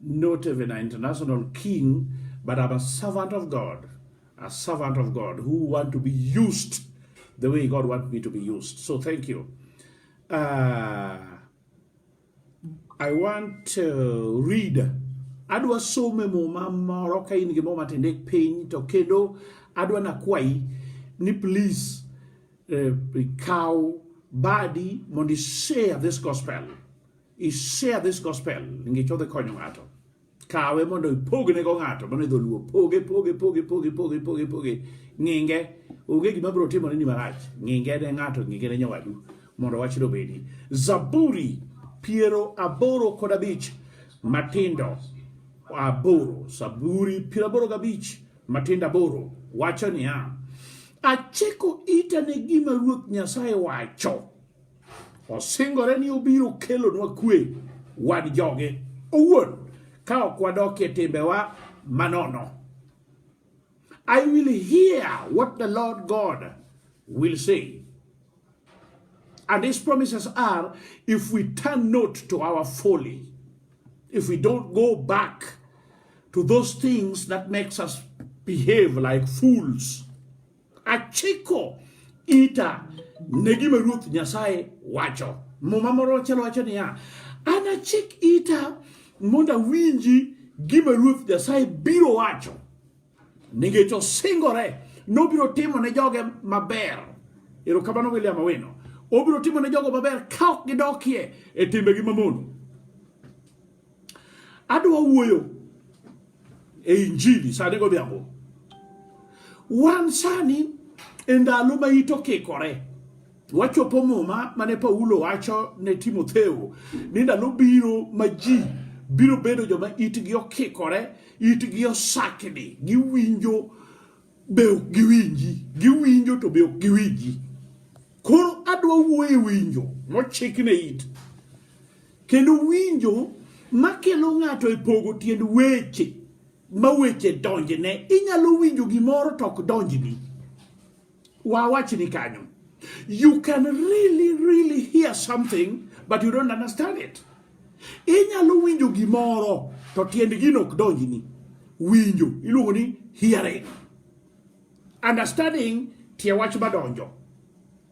not even an international king, but I'm a servant of God, a servant of God who want to be used the way God wants me to be used. So thank you. Uh, I want to read adwa some muma moro ka in gimoro matinde piny to kendo adwa nakwayi ni please uh, kaw badi mondo share this gospel i share this gospel ngi chodhe konyo ng'ato kawe mondo ipogne go ng'ato mano idho luo poge poge poge poge poge poge poge ng'inge onge gima biro timore ni marach ng'inge ne ng'ato ng'inge ne nyawadu mondo wach dobedi zaburi piero aboro kod abich matindo aboro zaburi piero aboro gabich matindo aboro wacho niya achiko ita ne gima ruoth nyasaye wacho Osingore ni obiro kelonwa kwe wan joge owuon ka ok wadok e timbewa manono. I will hear what the Lord God will say. And his promises are if we turn not to our folly, if we don't go back to those things that makes us behave like fools, Achiko ita ne gima Ruoth Nyasaye wacho. Muma moro chalo wacho niya, anachik ita mondo awinji gima Ruoth Nyasaye biro wacho. Nikech osingore nobiro timo ne joge maber. Erokamano William Awino. Obiro timo ne jogo maber ka ok gidokie e timbegi mamono. Adwa wuoyo e injili sani godhiambo. Wan sani e ndalo ma ito kikore wachopo muma mane Paulo wacho ne Timotheo ni ndalo biro ma ji biro bedo joma itgi okikore, itgi osakni, giwinjo be ok giwinji, giwinjo to be ok giwinji. Koro adwa wuoyo e winjo mochik ne it Kendo winjo makelo ng'ato e pogo tiend weche ma weche donjne, inyalo winjo gimoro to ok donjni. Wawachni kanyo. You can really, really hear something, but you don't understand it. Inyalo winjo gimoro to tiend gino ok donjni. Winjo iluongo ni hearing. Understanding tie wach madonjo.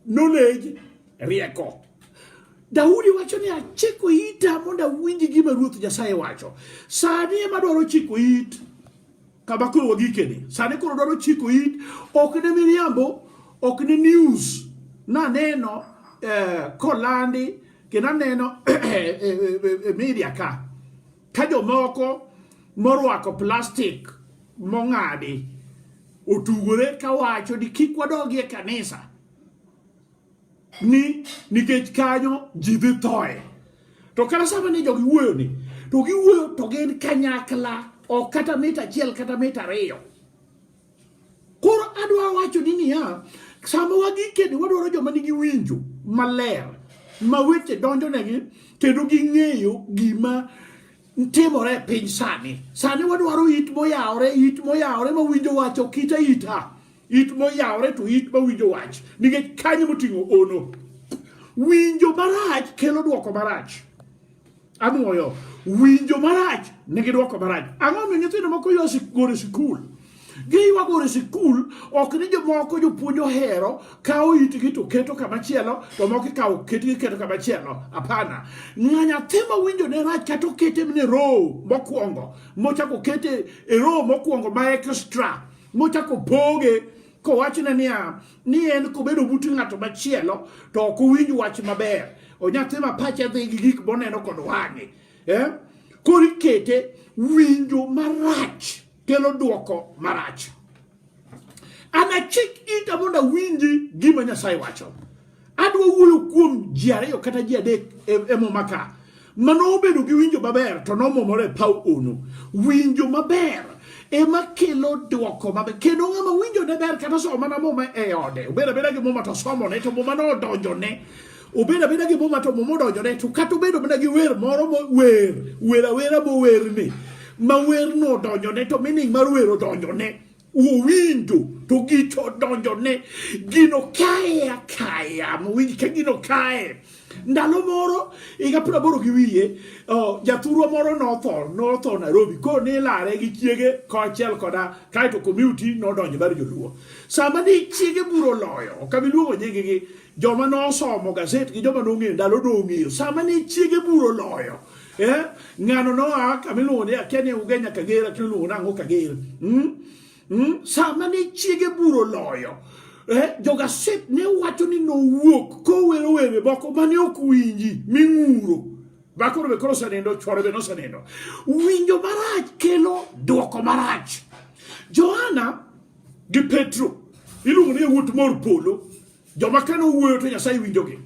Knowledge, rieko. Daudi wacho ni achiko ita mondo awinj gima Ruoth Nyasaye wacho. Sani ema dwaro chiko it kama koro wagikeni. Sani koro dwaro chiko it, ok ne miriambo, ok ne news. Naneno eh, kolandi kendo aneno e eh, eh, eh, media ka Ka jomoko morwako plastik mong'adi otugore kawacho ni kik wadogi e kanisa ni nikech kanyo ji dhi thoe to kata sama ni jogi wuoyo ni to giwuoyo to gin kanyakla ok kata mita achiel kata mita ariyo Koro adwaro wacho ni niya, sama wagikeni wadwaro joma nigi winjo maler ma weche donjonegi kendo ging'eyo gima timore e piny sani. Sani wadwaro it moyawore, it moyawore ma winjo wach ok ita ita. It moyawore to it ma winjo wach nikech kanyo moting'o ono. Winjo marach kelo dwoko marach. Anwoyo winjo marach ne gidwoko marach. Ang'o mi nyithindo moko yo goro e sikul? Giwa goro e sikul ok ni jomoko jopuonj ohero kawo itgi to keto kama chielo to moko ikawo ketgi keto kama chielo. Hapana. Ng'a nyathi ma winjo ne rach kata okete ne row mokwongo mochako kete e row mokwongo ma extra mochako poge kowachne niya ni en kobedo but ng'ato machielo to ok owinj wach maber onyathi ma pache dhi gi gik moneno kod wang'e eh? koro ikete winjo marach kelo dwoko marach anachik ita mondo awinji gima nyasaye wacho Adwa wuoyo kuom ji ariyo kata ji adek e, e muma ka mano obedo gi winjo maber to nomomore e paw ono. Winjo maber ema kelo dwoko maber kendo ng'ama winjo ne ber kata somo mana muma e ode obedo abeda gi muma to somone to muma nodonjone obedo abeda gi muma to muma odonjone to kata obedo mana gi wer moro mower wer awera mowerni ma werno odonjone to meaning mar wer odonjone uwinjo to gicho odonjo ne gino kae akaya mowinj ka gino kae ndalo moro higa piero aboro gi wiye jathurwa moro notho notho Nairobi koro nilare gi chiege kaachiel koda kaeto community nodonjo mar joluo sama ni chiege buro loyo ok abiluongo nyinggi joma nosomo gaset gi joma nong'eyo ndalo nong'eyo sama ne chiege buro loyo eh? ng'ano noa kama iluongo ni akia ni uge nyaka ger akia iluongo nang'o ka ger mm? mm? sama ne chiege buro loyo eh? jogaset ne wacho ni nowuok kowero were moko mane ok winji ming'uro bakoro be koro osenindo chwore be nosenindo winjo marach kelo dwoko marach johana gi petro iluongo ni yawuot mor polo Joma kane owuoyo to Nyasaye winjogi.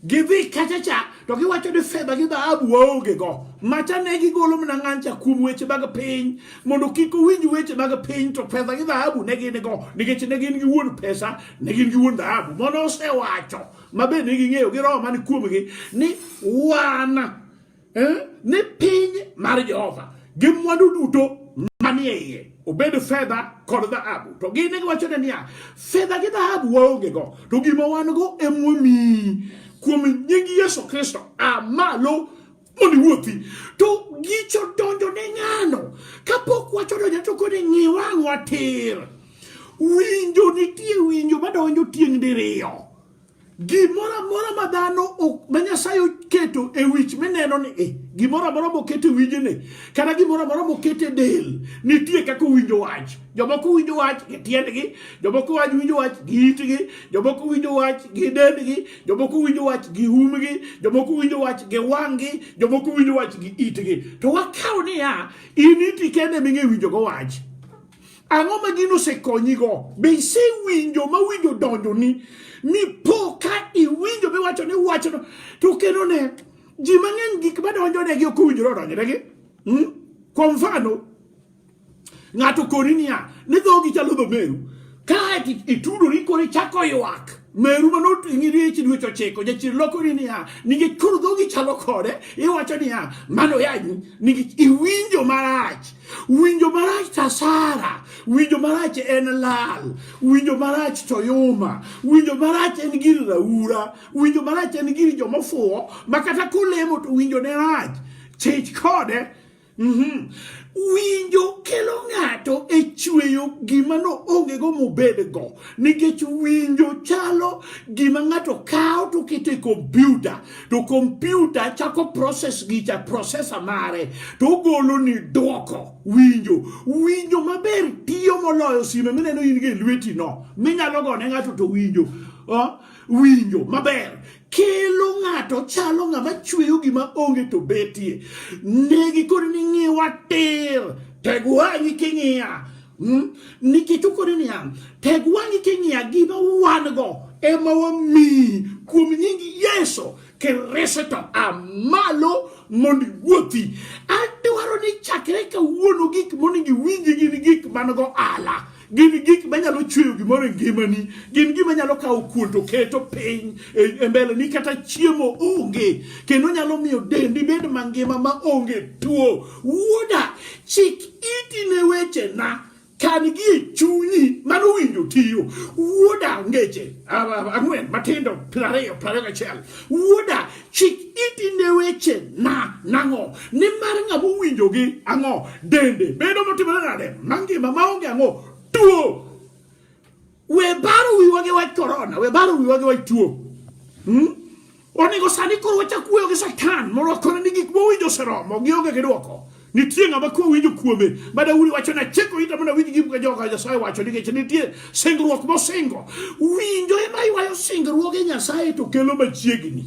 Gidhi kachacha to giwacho ni fedha gi dhahabu waonge go. Macha ne gigolo mana ng'ancha kuom weche mag piny mondo kik owinj weche mag piny to fedha gi dhahabu ne gin go nikech ne gin gi wuon pesa ne gin gi wuon dhahabu. Mono osewacho mabe ne ging'eyo gi roho man kuomgi ni wan eh, ni piny mar Jehova gi mwandu duto manie iye obed fedha kod dhahabu to gin ne giwachone niya fedha gi dhahabu waongego to gima wan go emwamiyi kuom nying Yesu Kristo a malo mondo iwuothi to gicho donjo ne ng'ano kapok wacho donjo to kode ng'i wang'wa tir winjo nitie winjo madonjo tieng' diriyo Gimoro amora ma dhano ma Nyasaye oketo e wich mineno ni e, gimoro amora moket e wijene kata gimoro amora moket e del nitie kaka owinjo wach. Jomoko winjo wach gi tiendgi, jomoko wach winjo wach gi itgi, jomoko winjo wach gi dendgi, jomoko winjo wach gi umgi, jomoko winjo wach gi wang'gi, jomoko winjo wach gi itgi. To wakaw niya, in iti kende ming'e winjogo wach. Ang'o ma gino osekonyigo? Be isewinjo ma winjo donjoni mipo ka iwinjo miwacho ni wachno to kendo ne ji mang'eny gik madonjonegi ok owinjore odonjnegi hmm? kwa mfano ng'ato koni niya ni dhogi chalo dho meru kae itudori koro ichako ywak meru mano ing'iri echi dweche ochiko jachir lokori niya nikech koro dhogi chalo kode iwacho niya mano yanyi nikech iwinjo marach Winjo marach tasara, winjo marach en lal, winjo marach to yuma, winjo marach en gir raura, winjo marach en gir jomofuwo ma kata kolemo to winjo ne rach. Chich kode. Mm -hmm. Winjo kelo ng'ato e chweyo gima no onge go mobed go nikech winjo chalo gima ng'ato kawo to keto e kompyuta to kompyuta chako proses gicha prosesa mare to ogolo ni dwoko winjo winjo maber tiyo moloyo sime mineno in gi lweti no minyalo gone ng'ato to winjo uh, winjo maber kelo ng'ato chalo ng'ama chweyo gima onge to betie negi kod ni ng'iwa tir tegwanyi king'iya Hmm? nikech okone niya teg wang'i king'iya gima wan go ema wamiyi kuom nying yesu kirese to amalo mondo iwuothi adwaro ni chakre kawuono gik monego iwinji gin gik man go ala gin gik manyalo chweyo gimoro e ngimani gin gima nyalo kawo kuon to keto piny e, e mbele ni kata chiemo onge kendo nyalo miyo dendi bed mangima ma onge tuo Wuoda, chik iti ne wechena, kan-gi e chunyi, mano winjo tiyo. Wuoda, ngeche ang'wen matindo piero ariyo piero ariyo gachiel. Wuoda, chik iti ne wechena, nang'o? Nimar ng'ama owinjogi ang'o? Dende bedo motimore nade? Mangima maonge ang'o? Tuo! We baro wiwa gi wach korona, we baro wiwa gi wach tuo. Hmm? Onego sani koro wachak wuoyo gi Satan mondo wakone ni gik mowinjo oseromo, gionge gi dwoko. nitie ng'ama kwe winjo kuome ma daudi wacho ni achiko ita mondo awinj gima joka nyasaye wacho nikech nitie singruok mosingo winjo ema ywayo singruoge nyasaye to kelo machiegni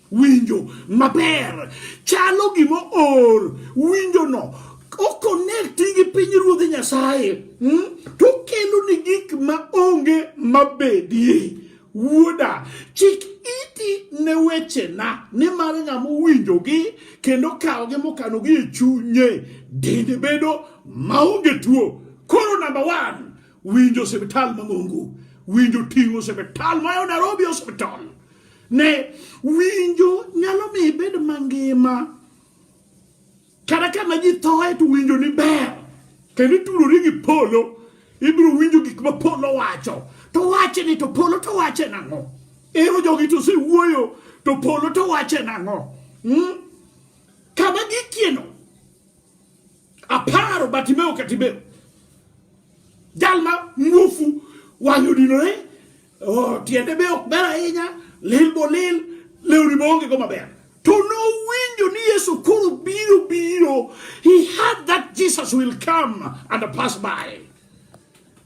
winjo maber chalo gima or winjono okonekti gi piny ruodhi nyasaye hmm? to okelo ni gik ma onge mabedie wuoda chik iti ne wechena nimar ng'ama owinjogi kendo kawogi mokanogi e chunye dende bedo maonge tuo koro namba wan winjo osiptal mang'ongo winjo ting'o osiptal mayo nairobi hospital Ne winjo nyalo mi ibed mangima kata kama ji thoe to winjo ni ber kendo itudori gi polo ibiro winjo gik ma polo wacho to wache ni to polo to wache nang'o ero jogi to sewuoyo to polo to wache nang'o hmm? kama gikieno aparo batimeo katimeo jal ma muofu wang'e odinore Oh, tiende be ok ber ahinya, lil bo lil, lewni be onge go maber. To nowinjo ni Yesu koro biro biro. He had that Jesus will come and pass by.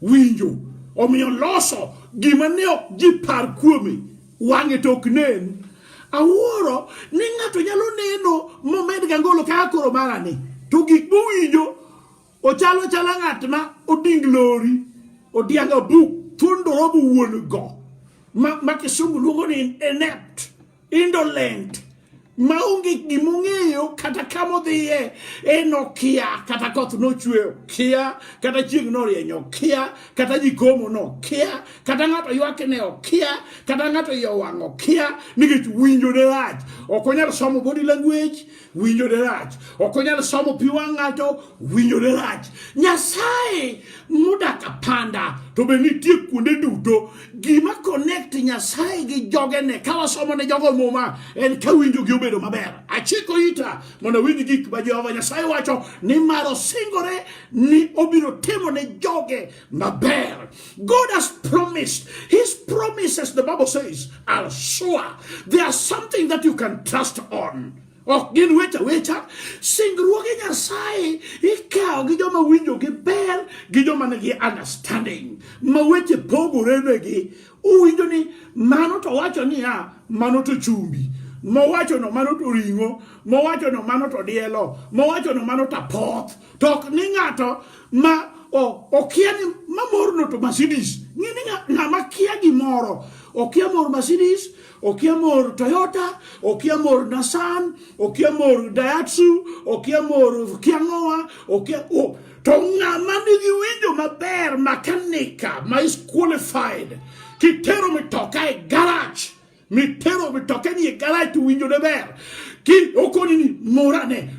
Winjo. Omiyo loso gima ne ok ji par kuome wang'e to ok nen. Awuoro ni ng'ato nyalo neno momed ga ngolo kaka koro marani. To gik mowinjo Ochalo chala ng'at ma oding lori, odianga buk, thundoro bu wuon go. Ma, ma kisungu luongo ni inept, indolent, ma onge gima ong'eyo kata kama odhiye en okia kata koth nochwe okia kata chieng' norieny okia kata jikomo nokia kata ng'ato ywakne okia kata ng'ato iye owang' okia nikech winjo ne rach ok onyal somo body language winjo ne rach ok onyal somo pi wang' ng'ato winjo ne rach nyasaye modak apanda to be nitie kuonde duto gima connect nyasaye gi jogene ka wasomo ne jogo muma en ka winjogi obedo maber achiko ita mondo winj gik ma jehova nyasaye wacho ni mar osingore ni obiro timo ne joge Naber. God has promised. His promises, the Bible says, are sure. They are something that you can trust on. ok gin weche awecha singruoge nyasaye ikawo gi joma winjo gi ber gi joma nigi understanding ma weche pogore negi uwinjo ni mano to wacho niya mano to chumbi mowachono mano to ring'o mowachono mano to dielo mowachono mano to apoth to ok ni ng'ato ma okia ni mamorno to Mercedes ng'e ni ng'ama kia gimoro okia mor Mercedes okia mor Toyota okia mor Nissan okia mor Daihatsu okia mor kia ng'owa okia to ng'ama nigi winjo maber makanika ma is qualified kitero mitoka e garage mitero mitoke ni e garaj to winjo ne ber ki okoni ni morane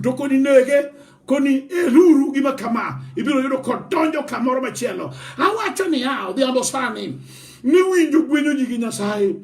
to koni nege koni eruru gima kama ibiro yudo kodonjo kamoro machielo awacho niya odhiambo sani ni winjo gwenyo ji gi nyasaye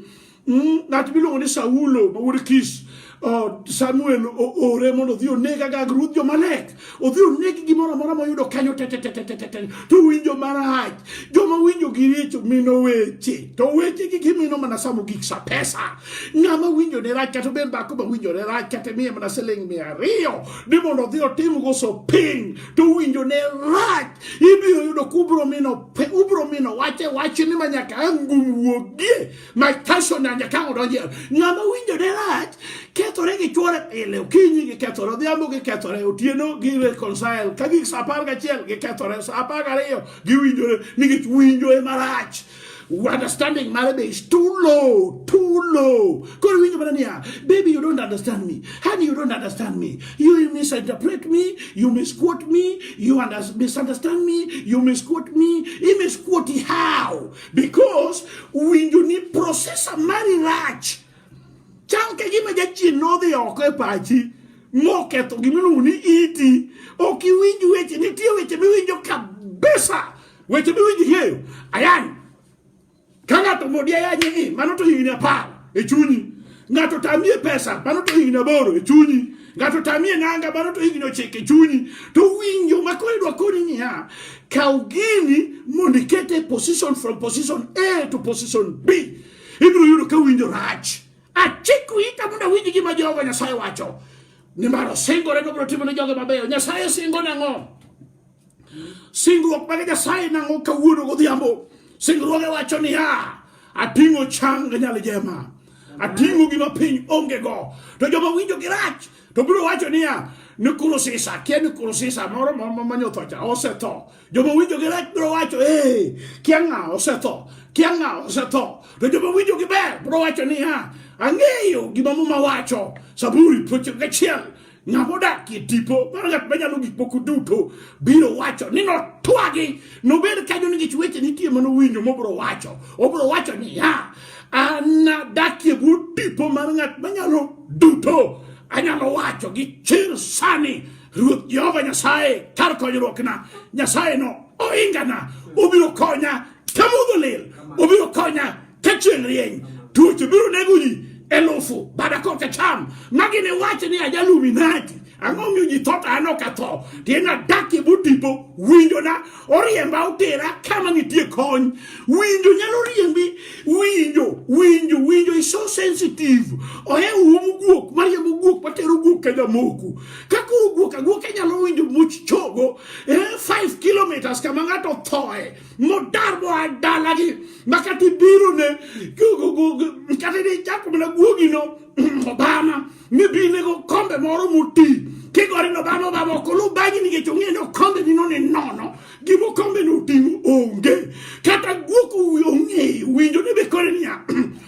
mm, ng'at miluongo ni saulo ma wuod kish Oh, Samuel oore mondo odhi oneg agag ruodh Jomalek, odhi oneg gimoro amora moyudo kanyo tetetetetete, to winjo marach. Joma winjo gi richo mino weche, to weche gi gimino mana samo gik sa pesa. Ng'ama winjo ne rach kata obed dhako ma winjo ne rach kata miye mana siling mia ariyo ni mondo odhi otim go shopping to winjo ne rach, ibiro yudo kubro mino ubro mino wache wachni ma nyaka angum wuogie My personal nyakang odonje. Ng'ama winjo ne rach kethore gi chwore pile okinyi gi kethore odhiambo gi kethore otieno gi reconcile ka gik sa apar gachiel gi kethore sa apar gariyo giwinjore nikech winjo e marach understanding mare be is too low too low koro winjo mana niya baby you don't understand me honey you don't understand me you misinterpret me you misquote me you misunderstand me you misquote me he misquote how because winjo ni processor mari rach chal ka gima jachien nodhi oko e pachi moketho gima iluongo ni iti ok iwinj weche nitie weche miwinjo kabisa weche miwinj ng'eyo ayany ka ng'ato modi ayany ni mano to higni apar e chunyi Ng'ato tamie pesa, mano to higni aboro e chunyi. Ng'ato tamie nanga, mano to higni ochiko e chunyi. To winjo ma koro idwa koni niya, kaw gini mondo ikete e position from position A to position B. Ibiro yudo ka winjo rach. Achiko ita mondo awinj gima Jehova Nyasaye wacho. Nimar osingore ni obiro timo ne joge mabeyo. Nyasaye singo nang'o? Singruok mage Nyasaye nang'o kawuono godhiambo? Singruoge wacho niya, ating'o chang nyal jema, ating'o gima piny onge go. To joma winjo gi rach to biro wacho niya, ni kurusisa, kia ni kurusisa moro manyotho cha osetho. Joma winjo gi rach biro wacho, ee, kia ng'a osetho, kia ng'a osetho. To joma winjo gi ber biro wacho niya, ang'eyo gima muma wacho, Zaburi piero ochiko gachiel Ng'ama odak e tipo mar ng'at manyalo gik moko duto biro wacho ni notwagi nobed kanyo nikech weche nitie mano winjo mobiro wacho obiro wacho niya anadakie bwo tipo mar ng'at manyalo duto anyalo wacho gi chir sani ruoth jehova nyasaye kar konyruokna nyasaye no oingana obiro konya kamudho lil obiro konya ka chieng' rieny tuoche biro nego ji elufu bada koka cham ma gini wacho ni ajaluminati ang'o miyo ji tho to an ok atho tieng' adakie botipo winjona oriemba otera kama nitie kony winjo nyalo riembi winjo winjo winjo is so sensitive ohe uomo guok mariembo guok matero guok ka jamoku ka koro guok aguoka nyalo winjo much chogo eh, 5 kilometers kama ng'ato thoe mu daar boo ay daalaki makati biiro ne kati di jakko mena guogino obama mi bi nego kombe moro muti kigorino obama obama okolu bagi nikech ong'eyo ni okombe nino ni nono gima okombe ni oting'o onge kata guok ong'eyo winjo ni be kore niya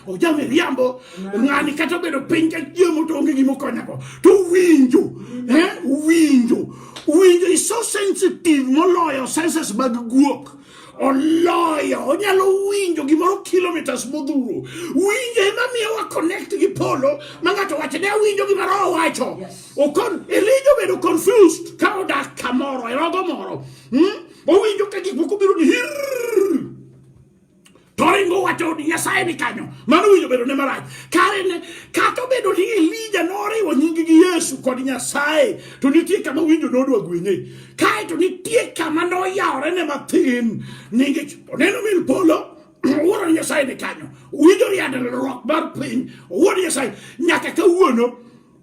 ojame riambo ng'ani kata obedo piny ka chiemo to onge gima okonyago to winjo eh, winjo winjo is so sensitive moloyo senses mag guok oloyo onyalo winjo gimoro kilometers modhuro winjo ema miyo wa connect gi polo ma ng'ato wacho ne awinjo gimoro owacho okon elijo bedo confused ka odak kamoro e rogo moro hmm? owinjo ka gik moko biro ni hirr toringo wacho ni nyasaye ni kanyo mano winjo bedo ne marach kare ne kata obedo ni elija noriwo nyingi gi yesu kod nyasaye to nitie kama winjo nodwa gwenye kae to nitie kama noyawore ne mathin ningech oneno mil polo wuoro nyasaye ni kanyo winjo riadruok mar piny wuoro nyasaye nyaka kawuono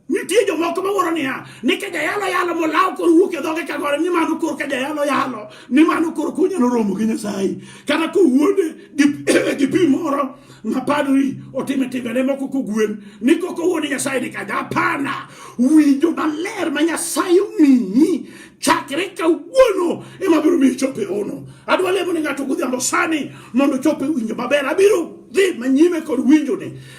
Nitie jomoko mawuoro niya ni ka jayalo yalo molawo kor wuok e dhoge kagore ni mano kor ka jayalo yalo ni mano kor kunyalo romo gi Nyasaye kata kowuonde gi pi moro ma padri otime timbene moko kogwen ni koko wuone Nyasaye ni kaja apana winjo maler ma Nyasaye omiyi chakre kawuono ema biro miyo chope ono adwa lemo ni ng'ato godhiambo sani mondo chope winjo maber abiro dhi manyime kod winjone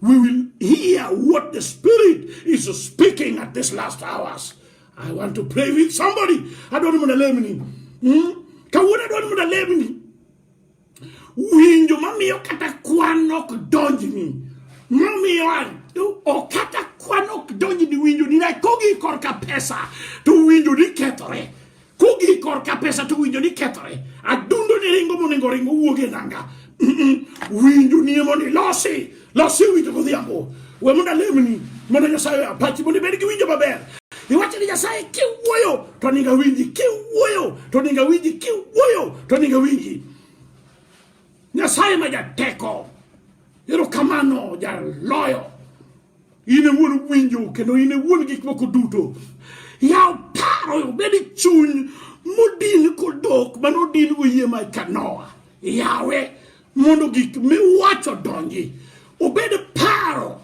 We will hear what the Spirit is speaking at this last hours. I want to pray with somebody. I don't want to let me. Hmm? Kawuna don't want to let me. Winjo mamiyo kata kwan ok donjni. Mamiyo anto ok kata kwan ok donjni winjo ni nakogi korka pesa to winjo ni kethore. Kugik korka pesa to winjo ni kethore, adundo ni ringo monego ringo wuog e nanga. Winjo ni mondo ilosi, losi winjo godhiambo. We mondo alemni, mondo Nyasaye apachi, mondo ibed gi winjo maber. Iwacho ni Nyasaye kiwuoyo to ninga winji, kiwuoyo to ninga winji, kiwuoyo to ninga winji. Nyasaye ma jateko, erokamano jaloyo. in e wuon winjo kendo in e wuon gik moko duto yaw paro obed chuny modin kodok mane odin go yie mar kanoa yawe mondo gik miwacho donji obed paro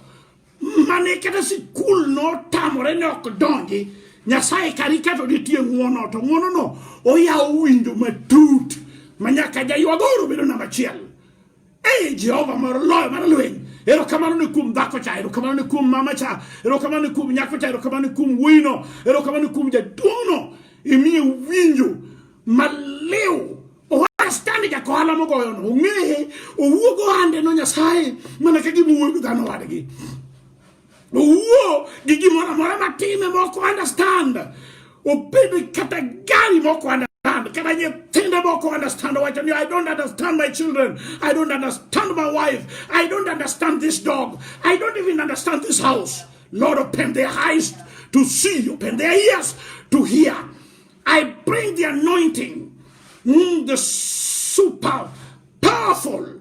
mane kata sikul notamore ne ok donji nyasaye kari kato nitie ng'uono to ng'uonono oyawo winjo matut manyaka jaywagoro bedo namba achiel Ei, Jehova moro loyo mar lweny. Erokamano ni kuom dhako cha, erokamano ni kuom mama cha, erokamano ni kuom nyako cha, erokamano ni kuom wuino, erokamano ni kuom jaduong'no. Imiye winjo maliw understand ja kohala mogoyo no ong'eye owuog ohande no nyasaye mana ka gima wuoyo dhano wadgi Owuo gi gimoro amora matime moko understand. Obed kata gari moko understand understand. Kata nyithindo moko understand wacho ni I don't understand my children. I don't understand my wife. I don't understand this dog. I don't even understand this house. Lord, open their eyes to see, open their ears to hear. I bring the anointing, mm, the super powerful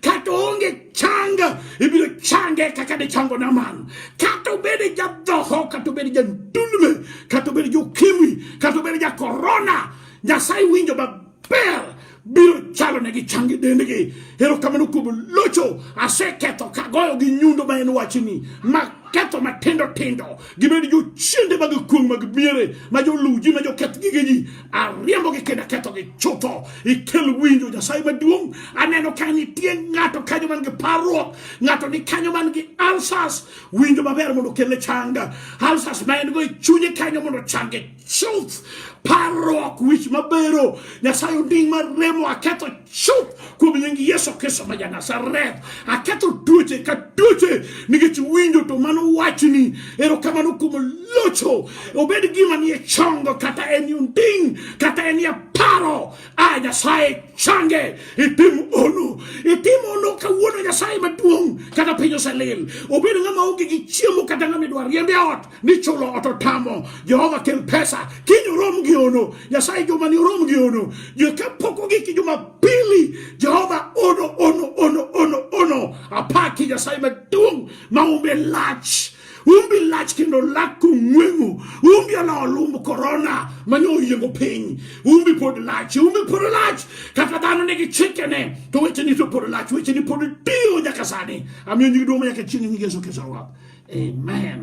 kata onge changa ibiro change kaka ne chango Naaman. Kata obed jadhoho, kata obed jandulme, kata obed jokimwi, kata obed ja korona, Nyasaye winjo maber biro chalo ne gi changi dendgi. Erokamano kuom locho, aseketho kagoyo gi nyundo ma en wachni, ma ketho matindo tindo gibed jochiende mag kuong' mag miere ma joluw ji ma joketh gige ji ariembogi kendo akethogi chutho ikel winjo nyasaye maduong' aneno ka nitie ng'ato kanyo man gi parruok ng'ato ni kanyo man gi alsas winjo maber mondo okelne changa alsas ma en go e chunye kanyo mondo change chuth parruok wich mabero nyasaye onding mar remo aketho chuth kuom nying yesu kristo ma janasareth aketho tuoche ka tuoche nikech winjo to mano wachni erokamano kuom locho obed gima nie chongo kata en onding kata en ya paro a nyasaye change itim ono itim ono kawuono nyasaye maduong' kata piny oselil obed ng'ama onge gi chiemo kata ng'ama idwa riembe ot ni chulo ot otamo jehova kel pesa kiny orom gi ono nyasaye jumani orom gi ono kapok ogiki jumapili jehova ono ono ono ono ono apaki nyasaye maduong' maumbe lach umbi lach kendo lak kong'weng'o umbi ala olumb korona mane oyiengo piny umbi pod lach umbi pod lach kata dhano nigi chikene to wecheni to pod lach wecheni pod tiyo nyaka sani amiyo nyigi duong' nyaka chieng' nyingi yesu kristo amen